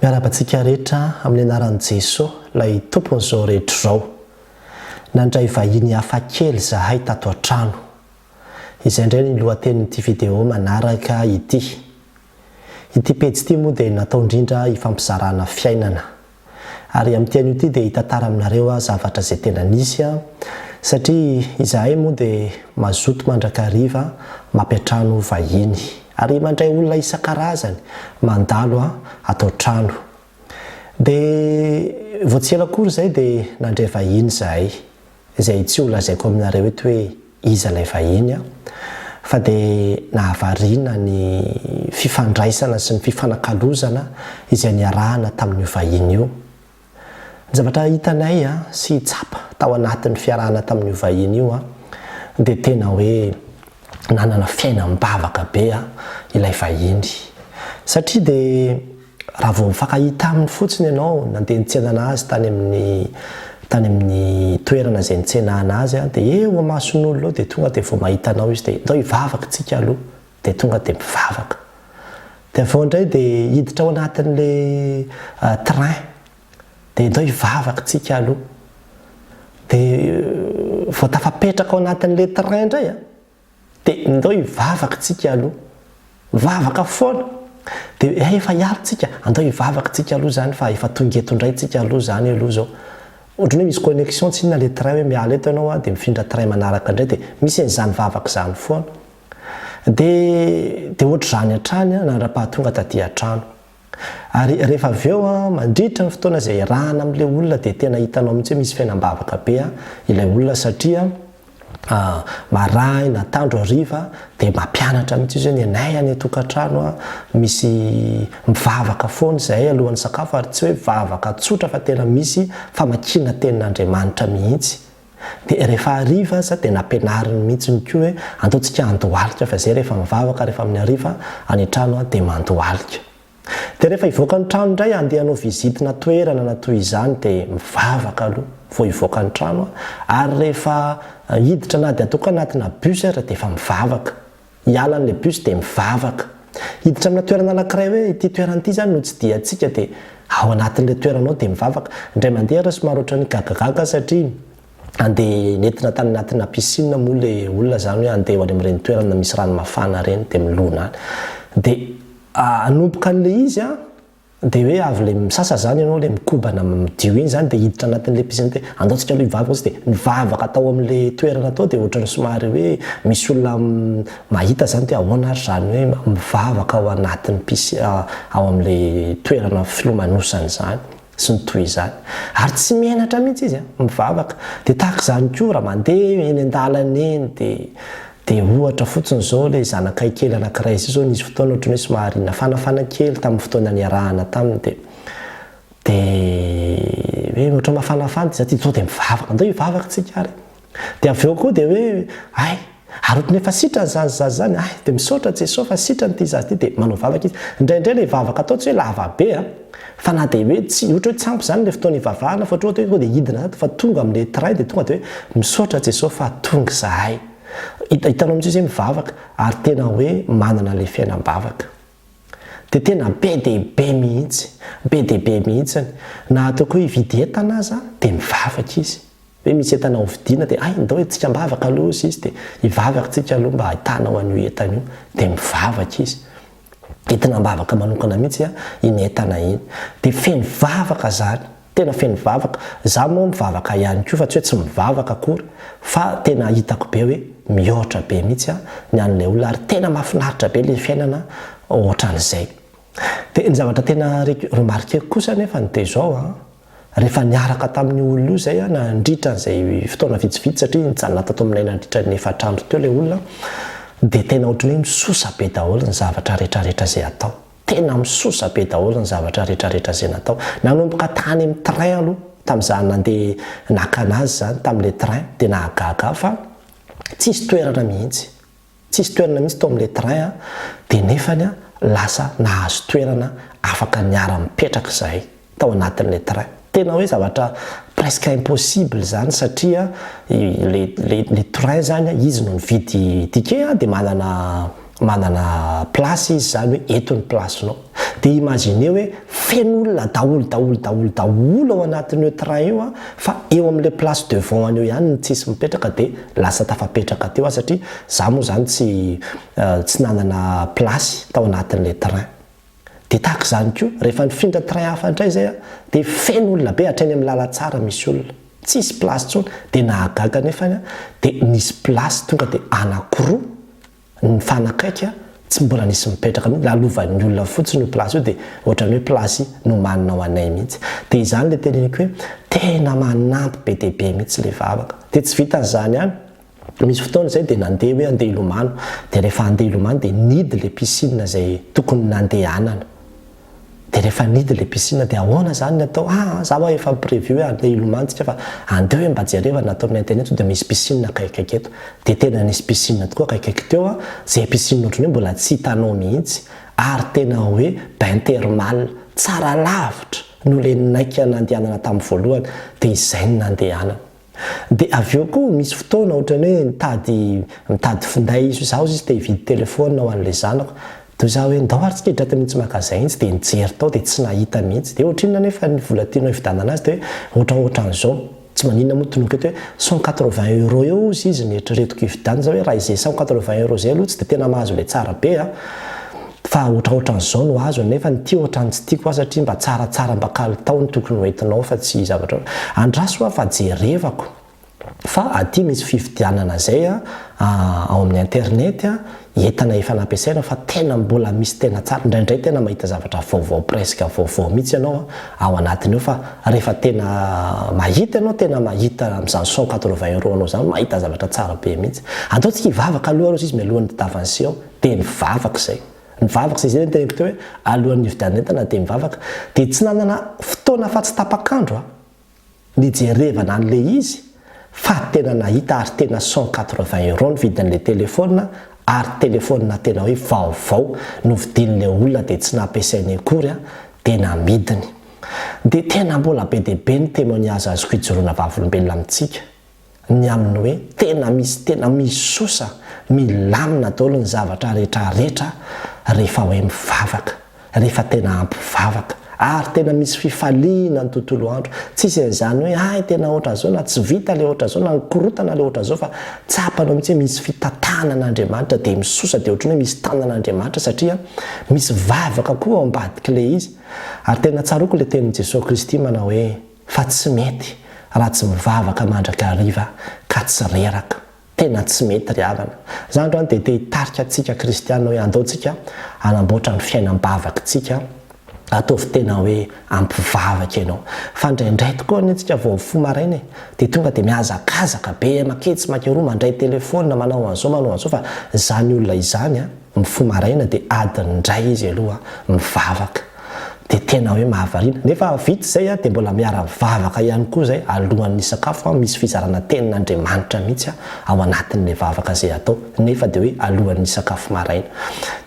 Miarahaba antsika rehetra amin'ny anaran'i Jeso, ilay Tompon'izao rehetra izao. Nandray vahiny hafa kely izahay tato an-trano. Izay indray ny lohatenin'ity video manaraka ity. Ity pejy ity moa dia natao indrindra hifampizarana fiainana. Ary amin'ity anio ity dia hitantara aminareo aho zavatra izay tena nisy an! Satria izahay moa dia mazoto mandrakariva mampiantrano vahiny. Ary mandray olona isan-karazany mandalo an! ato an-trano. Dia vao tsy ela akory izay dia nandray vahiny izahay. izay tsy ho lazaiko aminareo eto hoe iza ilay vahiny an, fa dia nahavariana ny fifandraisana sy ny fifanakalozana izay niarahana tamin'io vahiny io. Ny zavatra hitanay sy tsapa tao anatin'ny fiarahana tamin'io vahiny io dia tena hoe nanana fiainam-bavaka be ilay vahiny satria dia Raha vao mifankahita aminy fotsiny ianao, nandeha nitsenana azy tany amin'ny tany amin'ny toerana izay nitsenana azy, dia eo amason'olona eo dia tonga dia vao mahita anao izy dia ndao hivavaka isika aloha, dia tonga dia mivavaka. Dia avy eo indray dia hiditra ao anatin'ilay train, dia ndao hivavaka isika aloha. Dia vao tafapetraka ao anatin'ilay train indray an! De ndao hivavaka tsika aloha. Vavaka foana. De efa hiala tsika, andao hivavaka tsika aloha zany fa efa tonga eto ndray tsika aloha zany aloha zao. Ohatran'ny hoe misy connexion tsy inona le train hoe miala eto ianao a de mifindra train manaraka ndray de misy an'izany vavaka zany foana. De de ohatr'izany hatrany a nandra-pahatonga taty an-trano. Ary rehefa avy eo an, mandritra ny fotoana izay iarahana amin'ilay olona dia tena hitanao mihitsy hoe misy fiainam-bavaka be an, ilay olona satria an, marahina, antandro, hariva dia mampianatra mihitsy izy hoe ny anay any an-tokantrano an, misy mivavaka foana izahay alohan'ny sakafo ary tsy hoe vavaka tsotra fa tena misy famakiana tenin'Andriamanitra mihitsy. Dia rehefa hariva aza dia nampianariny mihitsiny koa hoe antontsika handohalika fa izay rehefa mivavaka rehefa amin'ny hariva any an-trano dia mandohalika. Dia rehefa hivoaka ny trano indray handeha hanao visitina toerana na toy izany dia mivavaka aloha vao hivoaka ny trano ary rehefa hiditra na dia toa ka anatina bus aza dia efa mivavaka. Hiala an'ilay bus dia mivavaka. Hiditra amina toerana anankiray hoe ity toerana ity izany no tsidihantsika dia ao anatin'ilay toerana ao dia mivavaka. Indray mandeha ary somary ohatran'ny gagagaga satria handeha nentina tany anatina piscine moa ilay olona izany hoe handeha ho any amin'ireny toerana misy rano mafana ireny dia milona any. Dia hanomboka an'ilay izy an! Dia hoe avy ilay misasa izany ianao, ilay mikobana midio iny izany dia hiditra anatin'ilay piscine dia andao tsika aloha hivavaka fotsiny dia nivavaka tao amin'ilay toerana tao dia ohatran'ny somary hoe misy olona mahita izany dia ahoana ary izany hoe mivavaka ao anatin'ny piscine ao amin'ilay toerana filomanosana izany sy ny toy izany. Ary tsy menatra mihitsy izy an, mivavaka. Dia tahaka izany koa raha mandeha eny an-dalana eny dia Dia ohatra fotsiny izao ilay zanakay kely anankiray izay izao nisy fotoana ohatran'ny hoe somary nafanafana kely tamin'ny fotoana niarahana taminy dia dia hoe ohatran'ny mafanafana dia za tia zao dia mivavaka andao hivavaka tsika ary dia avy eo koa dia hoe hay ary ohatran'ny efa sitrany izany zaza izany hay dia misaotra Jesoa fa sitrany ity zaza ity dia manao vavaka izy indraindray ilay vavaka atao tsy hoe lava be a Fa na dia hoe tsy, ohatra hoe tsy ampy izany ilay fotoana hivavahana fa ohatra hoe dia hidina ato fa tonga amin'ilay tray dia tonga dia hoe misaotra Jesoa fa tonga izahay. Hitanao mihitsy hoe izy mivavaka ary tena hoe manana ilay fiainam-bavaka. Dia tena be dia be mihitsy, be dia be mihitsy. Na ataoko hoe hividy entana aza dia mivavaka izy. Hoe misy entana ho vidiana dia hay ndao hiditsika am-bavaka aloha hozy izy dia hivavaka tsika aloha mba hahitanao an'io entana io dia mivavaka izy. Entina am-bavaka manokana mihitsy an iny entana iny. Dia feno vavaka zany. Tena feno vavaka. Za moa mivavaka ihany koa fa tsy hoe tsy mivavaka akory fa tena hitako be hoe mihoatra be mihitsy ny an'ilay olona ary tena mahafinaritra be ilay fiainana ohatran'izay. Dia ny zavatra tena reko remarquer-ko kosa anefany dia izao an. Rehefa niaraka tamin'io olona io izay aho nandritra an'izay fotoana vitsivitsy, satria nijanona tato aminay nandritra ny efatra andro teo ilay olona, dia tena ohatry ny hoe misosa be daholo ny zavatra rehetrarehetra izay atao. Tena misosa be daholo ny zavatra rehetrarehetra izay natao. Nanomboka tany amin'ny train aloha, tamin'izaho nandeha naka an'azy izany tamin'ilay train, dia nahagaga aho fa tsisy toerana mihitsy. Tsisy toerana mihitsy tao amin'ilay train aho dia nefany lasa nahazo toerana afaka niara mipetraka izahay tao anatin'ilay train. Tena hoe zavatra presque impossible izany satria ilay ilay ilay train izany izy no nividy ticket dia manana manana place izy izany hoe eto ny place-nao. Dia imaginez hoe feno olona daholo daholo daholo daholo ao anatin'io train io an, fa eo amin'ilay place devant an'io ihany no tsisy mipetraka dia lasa tafapetraka teo aho satria za moa izany tsy tsy nanana place tao anatin'ilay train. Dia tahaka izany koa, rehefa nifindra train hafa indray izay an, dia feno olona be hatreny amin'ny lalantsara misy olona, tsisy place intsony, dia nahagaga nefany an, dia nisy place tonga dia anakiroa, Nifanakaiky tsy mbola nisy mipetraka mihitsy, lalovan'ny olona fotsiny io place io dia ohatran'ny hoe place nomanina ho anay mihitsy. Dia izany ilay teneniko hoe tena manampy be dia be mihitsy ilay vavaka. Dia tsy vitan'izany ihany, nisy fotoana izay dia nandeha hoe handeha hilomano, dia rehefa handeha hilomano dia nihidy ilay piscine izay tokony nandehanana. Dia rehefa nidy ilay piscine dia ahoana izany ny atao? Ah za ho'a efa mi-preview hoe handeha hilomantsika fa andeo hoe mba jereva ny atao amin'ny internet sao dia misy piscine akaikikaiky eto. Dia tena nisy piscine tokoa akaikikaiky teo an! Izay piscine ohatran'ny hoe mbola tsy hitanao mihitsy. Ary tena hoe bain thermal tsara lavitra noho ilay naika nandehanana tamin'ny voalohany. Dia izay no nandehanana. Dia avy eo koa misy fotoana ohatran'ny hoe mitady mitady finday izy hoe izaho sisa te hividy telephone ho an'ilay zanako dia izaho hoe ndao ary tsika hidrata mihintsy magasin intsy dia nijery tao dia tsy nahita mihintsy dia ohatrinona nefa ny vola tianao hividanana azy dia hoe ohatra ohatran'izao tsy maninona moa toloiko eto hoe cent quatre vingt euros eo ozy izy ny eritreretiko hividanana izaho hoe raha izay cent quatre vingt euros izay aloha tsy dia tena mahazo ilay tsara be an! Fa otraotran'izao no azo nefa ny ty ohatrany tsy tiako ah satria mba tsaratsara mba kalitao no tokony ho entinao fa tsy zavatra andraso ah fa jerevako fa aty misy fividianana zay ah ao amin'ny internet ah entana efa nampiasaina fa tena mbola misy tena tsara indraindray tena mahita zavatra vaovao presque vaovao mihitsy ianao ao anatiny ao fa rehefa tena mahita ianao tena mahita amin'izany cent quatre-vingts euros anao izany mahita zavatra tsara be mihitsy ataontsika hivavaka aloha arosy izy mialohan'ny tadavan'seo dia nivavaka izay. Nivavaka izay izay no teneniko teo hoe alohan'ny nividianana entana dia nivavaka. Dia tsy nanana fotoana afa-tsy tapak'andro aho nijerevana an'ilay izy fa tena nahita ary tena cent quatre-vingts euros ny vidin'ilay telefaonina ary telefaonina tena hoe vaovao no vidin'ilay olona dia tsy nampiasainy akory an dia namidiny. Dia tena mbola be dia be ny témoignage azoko ijoroana vavolombelona amintsika. ny amin'ny hoe tena misy tena misosa milamina daholo ny zavatra rehetra rehetra rehefa hoe mivavaka rehefa tena ampy vavaka ary tena misy fifaliana ny tontolo andro tsisy an'izany hoe hay tena hoatra zao na tsy vita le hoatra zao na nikorotana le hoatra zao fa tsapanao mitsy misy fitatana an'Andriamanitra dia misosa dia hoatriny hoe misy tanan'Andriamanitra satria misy vavaka koa ao ambadik'le izy ary tena tsaroko le tenin'i Jesoa Kristy manao hoe Fa tsy mety raha tsy mivavaka mandrakariva ka tsy reraka. Tena tsy mety ry havana. Za androany dia te hitarika antsika kristiana hoe andao tsika hanamboatra ny fiainam-bavakintsika, ataovy tena hoe ampivavaka ianao. Fa indraindray tokoa anie tsika vao mifoha maraina e, dia tonga dia mihazakazaka be, maketsy makeroa, mandray telefaonina, manao an'izao manao an'izao, fa izany olona izany an. Mifoha maraina dia adiny indray izy aloha mivavaka dia tena hoe mahavariana. Nefa vita izay dia mbola miara mivavaka ihany koa izay alohan'ny hisakafo, misy fizarana tenin'Andriamanitra mihitsy ao anatin'ilay vavaka izay atao nefa dia hoe alohan'ny hisakafo maraina.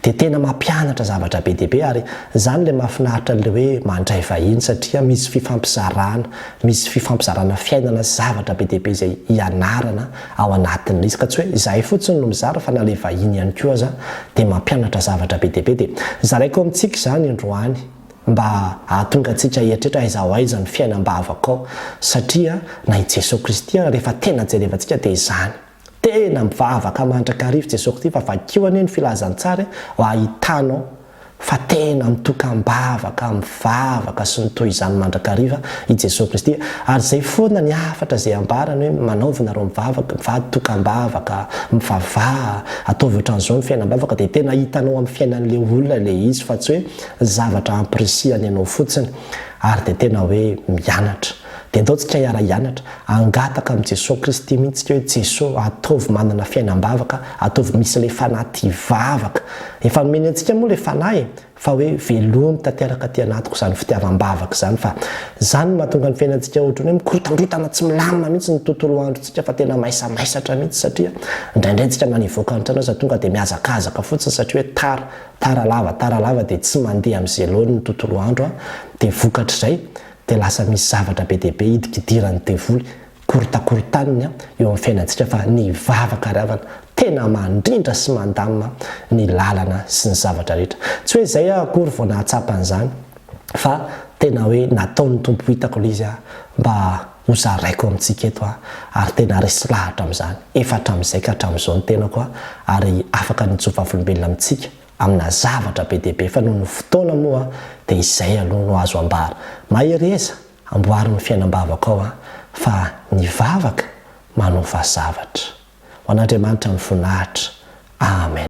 Dia tena mampianatra zavatra be dia be ary izany ilay mahafinaritra an'ilay hoe mandray vahiny satria misy fifampizarana, misy fifampizarana fiainana sy zavatra be dia be izay ianarana ao anatiny mihitsy ka tsy hoe izahay fotsiny no mizara fa na ilay vahiny ihany koa aza dia mampianatra zavatra be dia be dia zaraiko amintsika izany androany mba hahatonga antsika hieritreritra aiza ho aiza ny fiainam-bavaka ao satria na i Jesoa Kristy ary rehefa tena jerevantsika dia izany tena mivavaka mandrakariva i Jesoa Kristy fa vakio anie ny filazantsara e mba hahitanao fa tena mitoka am-bavaka, mivavaka sy ny toy izany mandrakariva i Jesoa Kristy, ary izay foana ny hafatra izay ambarany hoe manaova nareo mivavaka, mivady toka am-bavaka, mivavaha, ataovy ohatran'izao ny fiainam-bavaka dia tena hitanao amin'ny fiainan'ilay olona ilay izy fa tsy hoe zavatra ampirisihany anao fotsiny ary dia tena hoe mianatra. Dia ataontsika hiara-hianatra, hangataka amin'i Jesoa Kristy mihitsy tsika hoe, Jesoa, ataovy manana fiainam-bavaka, ataovy misy ilay Fanahy tia hivavaka. Efa nomeny antsika moa ilay Fanahy e! Fa hoe velomy tanteraka aty anatiko izany fitiavam-bavaka izany, fa izany no mahatonga ny fiainantsika ohatran'ny hoe mikorontandrotana tsy milamina mihitsy ny tontolo androntsika fa tena maisamaisatra mihitsy satria indraindray tsika na nivoaka ny trano aza tonga dia mihazakazaka fotsiny satria hoe tara, tara lava, tara lava dia tsy mandeha amin'izay laoniny ny tontolo andro dia vokatr'izay dia lasa misy zavatra be dia be hidikidiran'ny devoly, korotakorontaniny eo amin'ny fiainantsika fa ny vavaka ry havana tena mandrindra sy mandamina ny lalana sy ny zavatra rehetra. Tsy hoe izay aho akory vao nahatsapa an'izany fa tena hoe nataon'ny Tompo ho hitako ilay izy mba ho zaraiko amintsika eto ary tena resy lahatra amin'izany efa hatramin'izay ka hatramin'izao ny tenako ary afaka ny nitsofavolombelona amintsika amina zavatra be dia be fa noho ny fotoana moa dia izay aloha no azo ambara. Mahereza, amboary ny fiainam-bavako ao fa ny vavaka manofa zavatra. Ho an'Andriamanitra ny voninahitra. Amen.